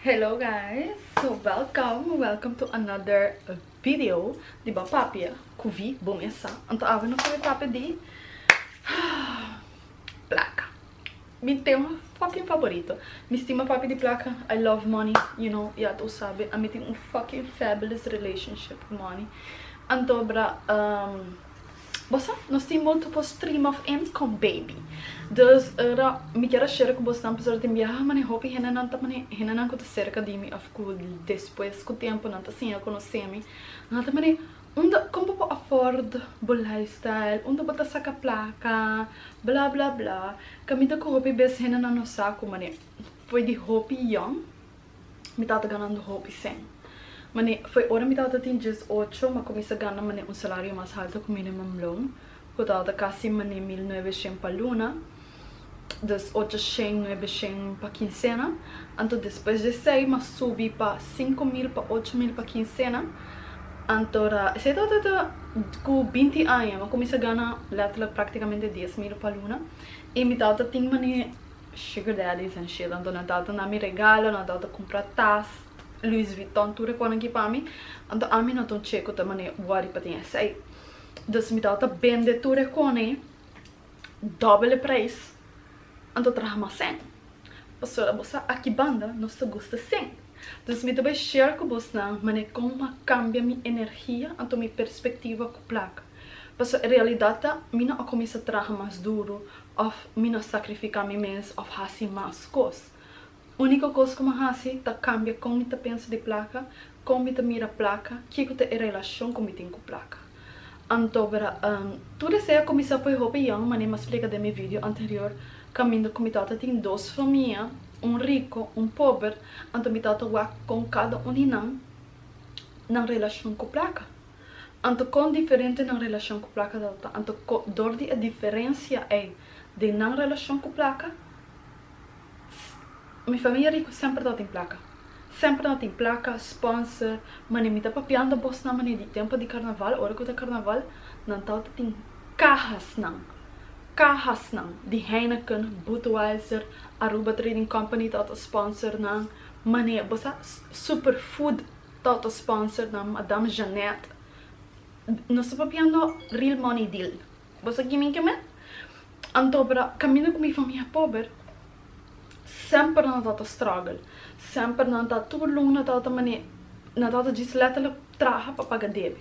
Hello guys so welcom welcom to another video di ba papia cu vi bo mesa anto awe nos ta be papia di placa mi tema fucking favorito mi stima papia di placa I love money you know y a todos sabe ami tin un fucking fabulous relationship cu money anto bra. Bo sa, nos tin moto for stream of ems con baby. Dus ora mi kier a share cu bosnan pasobra tin biaha mane hopi hendenan ta mane, hendenan cu ta cerca di mi of cu despues cu tempo nan ta siña conoce mi, nan ta mane, Unda, con bo por afford bo lifestyle? Unda bo ta saca placa? Bla bla bla. Caminda cu hopi bes hendenan nos sa cu mane, por di hopi young, Mi tata ganando hopi sen. Mane, foi ora mi tata tin dies ocho, m'a cuminsa gana mane un salario mas halto cu minimum loan, cu tabata casi mane mil nuebe shen pa luna, dus ocho shen, nuebe shen pa quincena. Anto despues d'esey m'a subi pa cinco mil, pa ocho mil pa quincena. Anto ra, esey tabata ta cu binti aña, m'a cuminsa gana letterlijk practicamente dies mil pa luna. Y mi tata tin mane. Sugar daddy san shit anto nan tato na mi regalo nan tato cumpra tas Louis Vuitton tur e cos nan ki pa mi anto ami no ta un che cu ta mane worry pa tin esai dus mi tato ta bende tur e cos ne dobele prijs anto traha mas sen pasobra bo sa aki banda nos ta gusta sin dus mi ta bay share cu bos nan mane con mi a cambia mi energia anto mi perspectiva cu placa pasobra e realidad ta mi no a cuminsa traha mas duro Òf mi no sakrifiká mi mes òf hasi mas kos. Úniko kos ku mi a hasi ta kambia kon mi ta pensa di plaka, kon mi ta mira plaka, ke ku ta e relashon ku mi tin ku plaka. Anto bra, tur esei a kuminsá poi hopi yòn, manera mi a splika den mi video anterior, kaminda ku mi tata tin dos famia, un riko, un pober, anto mi tata wak kon kada un di nan, nan relashon ku plaka. Anto kon diferente nan relashon ku plaka del ta? Anto dor di e diferensia ei den nan relashon ku plaka? S, Mi famia riku semper tabatin plaka. Semper nan tin plaka, sponsor. Manera mi ta papiando bosnan manera di tempo di karnaval, ora ku ta karnaval nan tabata tin kahasnan, kahasnan di Heineken, Budweiser, Aruba Trading Company tabata sponsor nan. Manera, bo sa, s, Superfood. Toto sponsor nan madam Jeanette nos ta papiando real money deal bo sa kimin ke men anto para kaminda ku mi famia pober semper nan tato struggle semper nan ta tur lunga nan tato ta mane nan tato djis letterlijk traha pa paga debe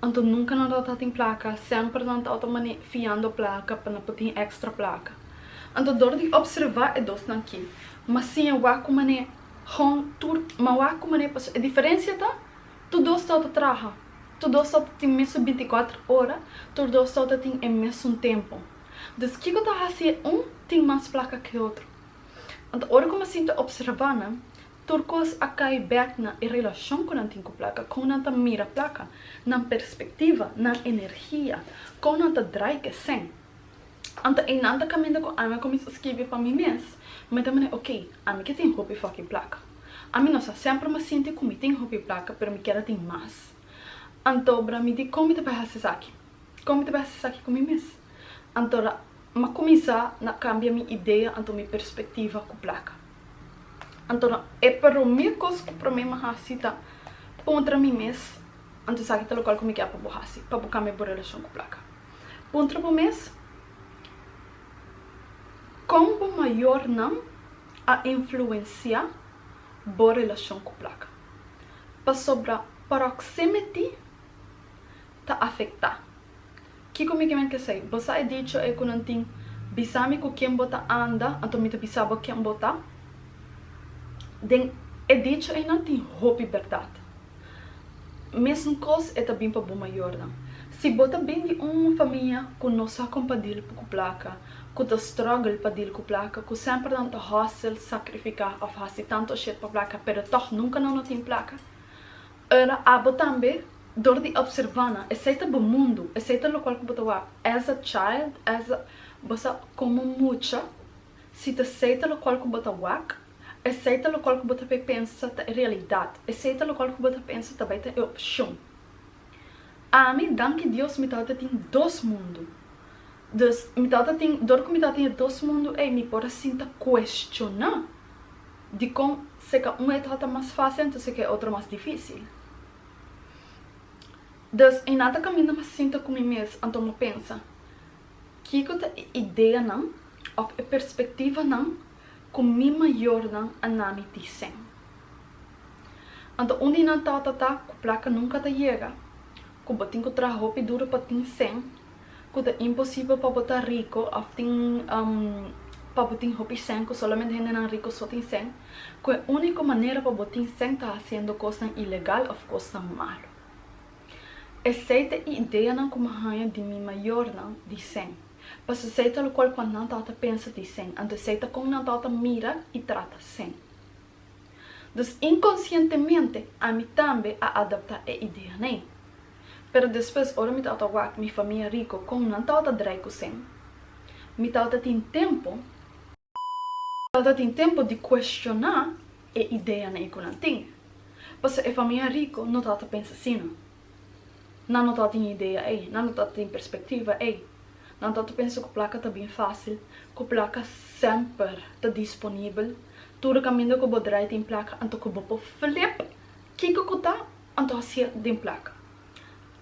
anto nunka nan tato ta tin plaka semper nan tato ta mane fiando plaka pa nan por tin extra plaka anto dor di observa e dos nan ki mas siña wak ku mane. Hon, tur, ma wak ku manera pasó. E diferensia ta, tur dos tau ta traha, tur dos tau ta tin mesun binti i kuater ora, tur dos tau ta tin e mesun tempu. Dus kiko ta hasi e un tin mas plaka ku e otro? Anto ora ku mi a sinta opservá nan, tur kos a kai bèk na e relashon ku nan tin ku plaka, kon nan ta mira plaka, nan perspektiva, nan energia, kon nan ta drai ke sèn. Anto einan ta caminda cu ami a cuminsa skibi pa mi mes, mi ta manera ok, ami ke tin hopi fucking placa. Ami no sa semper mi a sinti cu mi tin hopi placa pero mi kier a tin mas. Antobra mi di con mi ta bay haci esaki? Con mi ta bay haci esaki cu mi mes? Antora mi a cuminsa na cambia mi idea anto mi perspectiva cu placa. Antora e prome cos cu prome mi a haci ta puntra mi mes, Anto esaki ta locual cu mi kier pa bo haci pa bo cambia bo relacion cu placa? Puntra bo mes, Kon bo mayornan a influensiá bo relashon ku plaka? Pasobra pròksimiti ta afektá. Kiko mi ke mente esei? Bo sa e dicho ei ku nan tin, Bisa mi ku ken bo ta anda, anto mi ta bisa bo ken bo ta? Den e dicho ei nan tin hopi bèrdat. Mesn kos e ta bin pa bo mayornan. Si bo ta bin di un famia ku no sa kon pa dil ku plaka, ku ta struggle pa dil ku plaka, ku semper nan ta hustle, sakrifiká òf hasi tantu shit pa plaka pero tòg nunka nan no tin plaka, ora abo tambe dor di opservá nan, esei ta bo mundu, esei ta lokual ku bo ta wak as a child, as a, bo sa komo mucha, si ta esei ta lokual ku bo ta wak. Esei ta locual cu bo ta bay pensa ta e realidad. Esei ta locual cu bo ta pensa ta bay ta e opcion. Ami, danki Dios, mi tabata tin dos mundo. Dus, mi tabata tin, dor cu mi tabata tin e dos mundo ei, mi por a sinta cuestiona dicon si ca un e tabata mas facil anto si ca e otro mas dificil. Dus, e nan ta caminda mi a sinta cu mi mes anto mi a pensa, Kico ta e ideanan of e perspectivanan Ku mi mayornan a na mi disen. Anto un di nan tata ta ku plaka nunka ta yega, ku bo tin ku traha hopi duru pa tin sen, ku ta imposibel pa bo ta riko òf tin pa bo tin hopi sen, ku solamente hendenan riko so tin sen, ku e úniko manera pa bo tin sen ta hasiendo kosnan ilegal òf kosnan malu. Esei ta e ideanan ku mi haña di mi mayornan disen. Paso esei ta locual con nan tata pensa di sen, anto esei ta con nan tata mira y trata sen. Dus inconscientemente ami tambe a adapta e ideanei. Pero despues ora mi tata wak mi famia rico con nan tata drai cu sen, mi tata tin tempo, Falta tin tempu di kuestioná e ideanan ei ku nan tin, pasobra e famia riku no ta ta pensa asina. Nan no ta tin idea ei, nan no ta tin perspektiva ei. Nan ta ta pensa ku plaka ta bin fásil, ku plaka semper ta disponibel. Tur kaminda ku bo drai tin plaka, anto ku bo por flip kiko ku ta, anto hasia den plaka.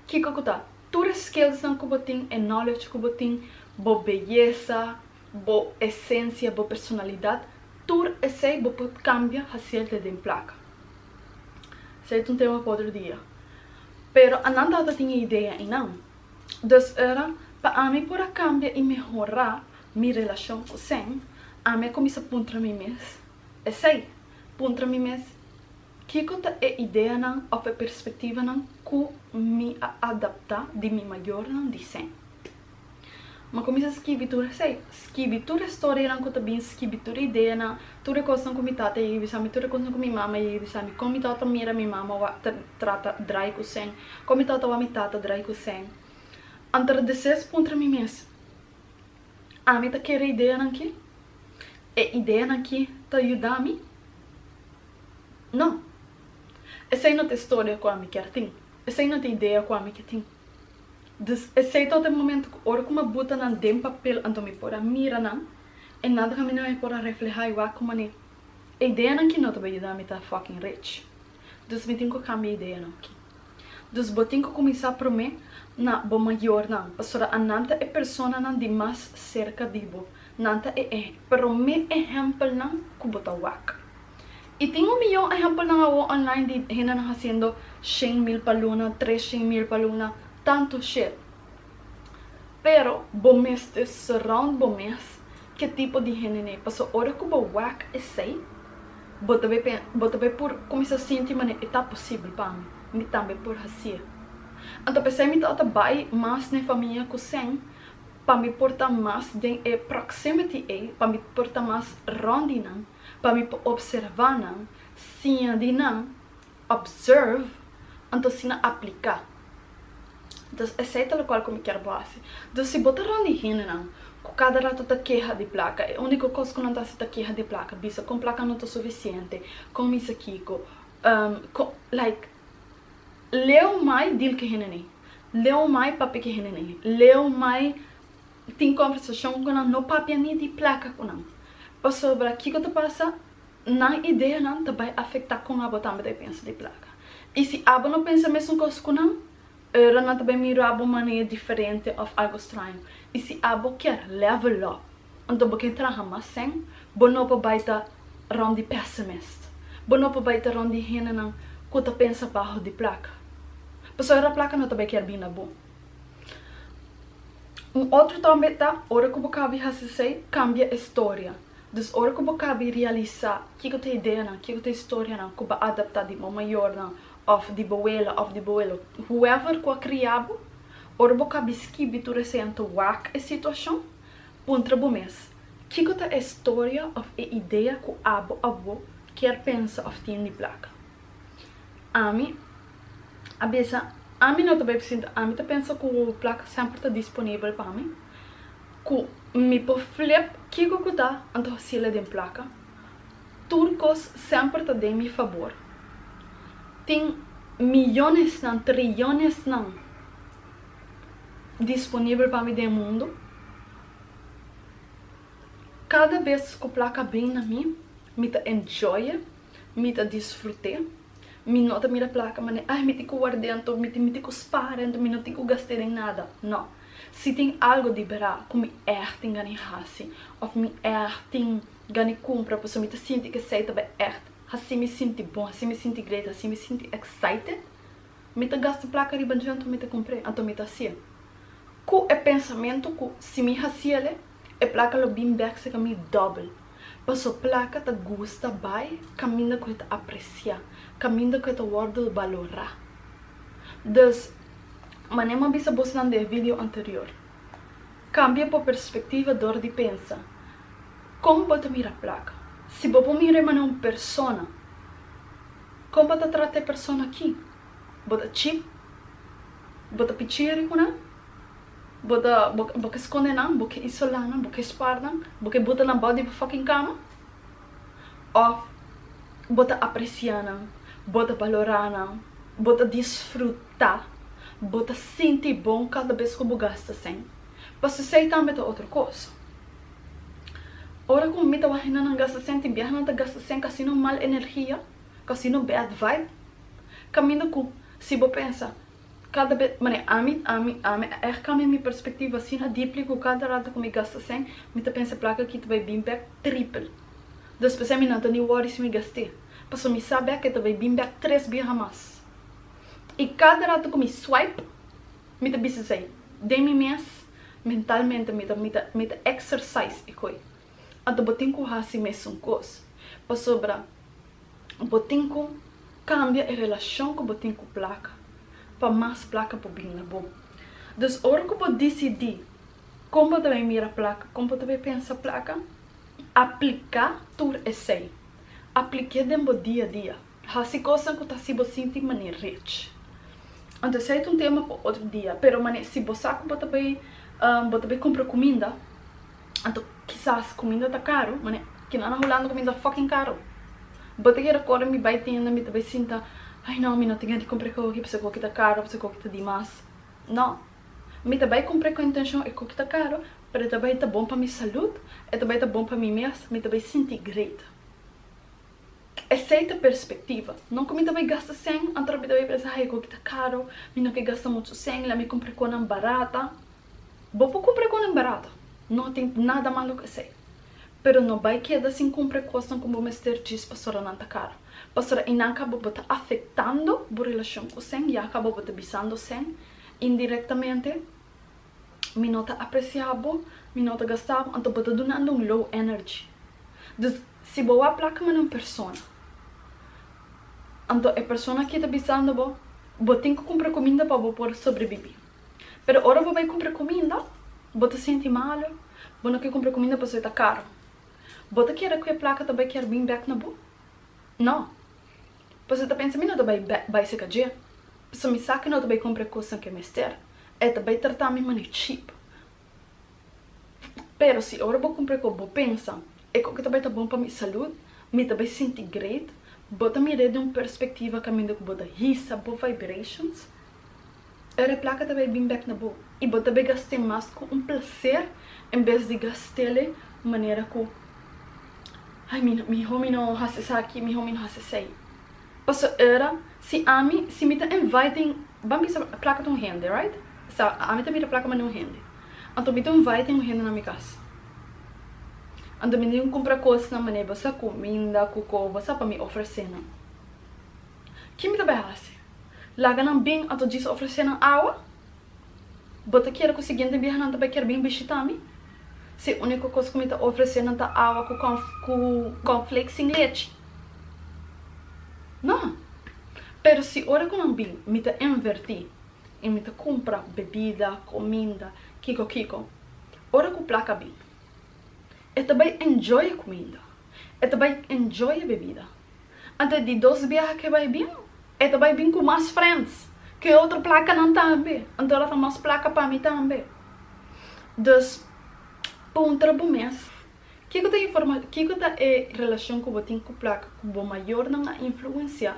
Kiko ku ta, tur e skillsnan ku bo tin, e knowledge ku bo tin, bo beyesa, Bo esencia, bo personalidad, tur esey bo por cambia hacier ta den placa. Esey ta un tema pa otro dia. Pero a nan tata tin e idea eynan. Dus ora pa ami por a cambia y mehora mi relacion cu Sen, ami a cuminsa puntra mi mes esey. Puntra mi mes, kico ta e ideanan of e perspectivanan cu mi a adapta di mi mayornan di Sen? Mi cuminsa skibi tur esey. Skibi tur e storianan cu ta bin, skibi tur e ideanan, tur e cosnan cu mi tata a yega bisami, tur e cosnan cu mi mama a yega bisami, con mi tata mira mi mama wak ta trata draai cu seen, con mi tata wak mi tata draai cu seen. Anterdeses puntra mi mes, Ami ta kere ideanan ki? E ideanan ki ta yudami? No. Esey no ta e storia cu ami kier tin. Esey no ta e idea cu ami ke tin. Dus esei tot e momento cu ora cu mi a buta nan den papel anto mi por a mira nan, e nan ta camina mi por a refleha y wak cu mane e ideanan ki no ta bay yuda mi ta fucking rich. Dus mi tin cu cambia e ideanan aki. Dus bo tin cu cuminsa prome na bo mayornan, pasobra anan ta e personanan di mas cerca di bo, nan ta e prome ehempelnan cu bo ta wak. Y tin un miyon ehempelnan awo online di hendenan haciendo shen mil pa luna, tres shen mil pa luna, tanto shit. Pero bo mester surround bo mes ke tipo di hende nei, paso ora cu bo wak esey, bo ta bay bo ta bay por cuminsa sinti manera e ta posibel pa mi, mi tambe por haci'e. Anto pesey mi ta ota bay mas na e famia cu sen, pa mi por ta mas den e proximity ey, pa mi por ta mas rond di nan. pa mi por observá nan, siña di nan, observe, anto si nan apliká. Dus esei ta lokual ku mi kier bo hasi. Dus si bo ta rònt di hendenan ku kada ratu ta keha di plaka, e úniko kos ku nan ta hasi ta keha di plaka, bisa kon plaka no ta sufisiente, kon misa kiko, kon, like, leu mai dil ku hende ni, leu mai papia ku hende ni, leu mai. Tin conversacion cu nan no papia ni di placa cu nan. Pasobra kico ta pasa? Nan ideanan ta bay afecta con abo tambe ta bay pensa di placa. Y si abo no pensa mesun cos cu nan, e ora nan ta bay mira bo manera diferente of algo straño. Y si abo kier level up, anto bo kier traha mas sen, bo no por bay ta rond di pessimist. Bo no por bay ta rond di hendenan cu ta pensa baho di placa. Pasobra placa no ta bay kier bina bo. Un otro tambe ta, ora ku bo kabi hasi esei, kambia e storia. Dus ora ku bo kabi realisá kiko ta e ideanan, kiko ta e storianan ku bo adaptá di bo mayornan òf di bo wela òf di bo welo, whoever ku a kria bo, ora bo kabi skibi tur esei an ta wak e situashon, puntra bo mes, Kiko ta e storia òf e idea ku abo, awó, kier pensa òf tin di plaka? Ami a bisa ami no ta bai presinta ami ta pensa ku plaka semper ta disponibel pa mi ku mi por flep kiko ku ta anto hasil aden plaka tur kos semper ta den mi fabor tin miyonesnan triyonesnan disponibel pa mi den mundu kada bes ku plaka a bin na mi mi ta enjoye. mi ta disfrut'é. Mi no ta mira plaka manera ai mi tin ku ward'é anto mi tin mi tin ku spar'é anto mi no tin ku gast'é den nada, no. Si tin algo di bera ku mi èg tin gana hasi òf mi èg tin gana kumpra pasobra mi ta sinti ku esei ta èg hasi mi sinti bon, hasi mi sinti great, hasi mi sinti excited, mi ta gasta plaka riba dje anto mi ta kumpr'é, anto mi ta hasi'é. Ku e pensamentu ku si mi hasiel, E plaka lo bin bek seka mi dòbel. Paso plaka ta gusta bai kaminda ku e ta apresiá, kaminda ku e ta wòrdu balorá. Dus, manera mi a bisa bos nan den e video anterior, kambia bo perspektiva dor di pensa kon bo ta mira plaka. Si bo por mira e manera un persona, kon bo ta trata e persona aki? Bo ta chip? Bo ta pichiri ku nan? Bo ta, bo, bo ke skonde nan, bo ke isolá nan, bo ke spar nan, bo ke buta nan bou di bo fòking kama? Òf bo ta apresiá nan, bo ta balorá nan, bo ta disfrutá, bo ta sinti bon kada bes ku bo gasta sen? Pasobra esei tambe ta otro kos. Ora ku mi ta waha henda nan gasta sen, tin biaha nan ta gasta sen ku asina mal energia, ku asina bad vibe. Kaminda ku si bo pensa, Kada bes, mane, ami, ami, ami a ègt kambia mi perspektiva asina dipli ku kada rata ku mi gasta sèn, mi ta pensa plaka aki ta bai bin bèk tripel. Dus p'esei mi no ta ni wòri si mi gast'é, pasobra mi sa bèk e ta bai bin bèk tres biaha mas. I kada rata ku mi swipe, mi ta bisa esei den mi mes, mentalmente mi ta mi ta mi ta exercise e koi. Anto bo tin ku hasi mesun kos, pasobra bo tin ku kambia e relashon ku bo tin ku plaka, pa mas plaka por bin na bo. Dus ora ku bo disidí kon bo ta bai mira plaka, kon bo ta bai pensa plaka, apliká tur esei. Aplik'é den bo dia dia. Hasi cosnan cu ta haci bo sinti manera rich. Anto esey ta un tema pa otro dia, pero mane si bo sa cu bo ta bay bo ta bay cumpra cuminda, anto kisas cuminda ta caro, mane kinan na Hulanda cuminda ta fucking caro. Bo ta keda corda mi bay tienda mi ta bay sinta, ay no mi no tin di cumpra e cochi pasobra e cochi ta caro, pasobra e cochi ta dimas. No, mi ta bay cumpra cu intencion e cochi ta caro, pero e ta bay ta bon pa mi salud, e ta bay ta bon pa mi mes, mi ta bay sinti great. Esei ta perspektiva. No ku mi ta bai gasta sèn, anto ora mi ta bai pensa, Ai, e goki ta karu, mi no ke gasta muchu sèn, la mi kumpra konan barata. Bo por kumpra konan barata, no tin nada malu ku esei. Pero no bai keda sin kumpra e kosnan ku bo mester djis pasobra nan ta karu. Pasobra einan kaba bo ta afektando bo relashon ku sèn, ya kaba bo ta bisando sèn indirektamente Mi no ta aprecia bo, mi no ta gasta bo, anto bo ta dunando un low energy. Dus si bo a placa manda un persona, anto e persona aki ta bisando bo, bo tin cu cumpra cuminda pa bo por sobrebibi. Pero ora bo bay cumpra cuminda, bo ta sinti malu, bo no ke cumpra cuminda pasobra e ta caro. Bo ta kere cu e placa ta bay kier bin bek na bo? No. Pasobra ta pensa mi no ta bai bai seka dje, pasobra mi sa ke no ta bai kumpra e kosnan ke mester. E ta bai trata mi manera cheap. Pero si ora bo kumpra ku bo pensa, e ku ke ta bai ta bon pa mi salud, mi ta bai sinti great, bo ta mira e den un perspektiva kaminda ku bo ta hisa bo vibrations. Era plaka ta bay bin bek na bo y bo ta bay gast'é mas cu un placer en bes di gast'ele manera cu ay mi miho mi no haci esaki miho mi no haci esey. Paso era si ami si mi ta inviting ban bisa plaka ta un hende right esta ami ta mira plaka mane un hende anto mi ta inviting un hende na mi cas and mi ta cumpra cosnan mane bo sa cuminda cu cobosa pa mi ofrecenan. Ki mi ta bai hasi? Laga nan bin anto djis ofresé nan awa? Bo ta kere ku siguiente biaha nan ta bai kere bin bishita mi? Si e úniko kos ku mi ta ofresé nan ta awa ku kònfleks sin lechi? No. Pero si ora ku nan bin mi ta invertí i mi ta kumpra bebida, kuminda, kiko kiko, ora ku plaka bin, e ta bai enjoy e kuminda, e ta bai enjoy e bebida. Anto di dos biaha ke bai bin, e ta bai bin ku mas friends ku e otro plakanan tambe. Anto ora ta mas plaka pa mi tambe. Dus, puntra bo mes, Kiko ta informa, kiko ta e relashon ku bo tin ku plaka ku bo mayornan a influensiá?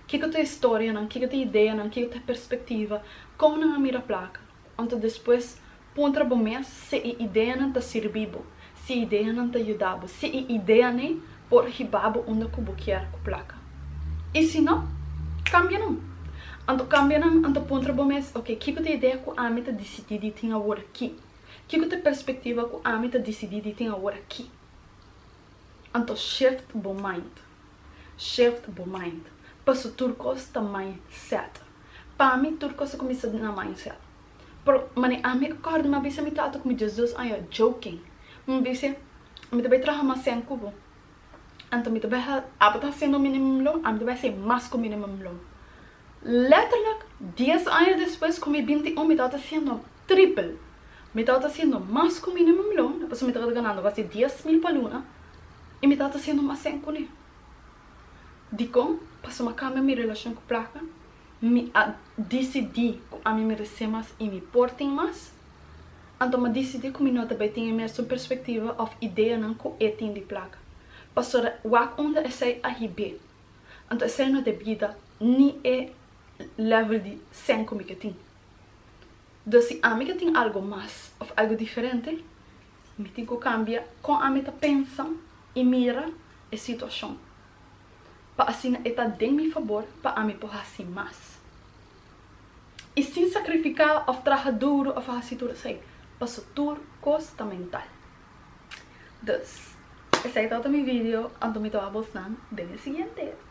Kiko ta e storianan, kiko ta e ideanan, kiko ta e perspektiva, kon nan a mira plaka? Anto despues puntra bo mes si e ideanan ta sirbi bo, si e ideanan ta yuda bo, si e ideanan por hiba bo unda ku bo kier ku plaka. I si no, kambia nan. Anto kambia nan, anto puntra bo mes, Oke, kiko ta e idea ku ami ta disidí di tin awor aki? Kiko ta e perspektiva ku ami ta disidí di tin awor aki? Anto shift bo mind. Shift bo mind. Paso tur cos ta mindset. Pa mi tur cos ta cuminsa na mindset. Pero mane ami acorda mi a bisa mi tata cu mi dies dos aña joking. Mi dice mi ta bay traha mas sen cu bo. Anto mi ta bay aba ta haciendo minimum lo ami ta bay haci mas cu minimum lo. Letterlijk dies aña despues cu mi binti un mi tawata haciendo triple. Mi tawata haciendo mas cu minimum lo pasobra mi tawata ganando basi dies mil pa luna. I mi tata siendo mas sèn kuné. Dikon? Pasobra kambia mi relashon ku plaka, mi a disidí ku ami meresé mas i mi por tin mas. Anto mi a disidí ku mi no ta bai tin e mesun perspektiva òf ideanan ku e tin di plaka. Pasobra wak unda esei a hib'é. Anto esei no debí da ni e lèvel di sèn ku mi ke tin. Dus si ami ke tin algu mas òf algu diferente, Mi tin ku kambia kon ami ta pensa i mira e situashon, pa asina e ta den mi fabor pa ami por hasi mas. I sin sakrifiká òf traha duru òf hasi tur esei, paso tur kos ta mental. Dus, esei tabata mi video, anto mi ta wak bosnan den e siguiente.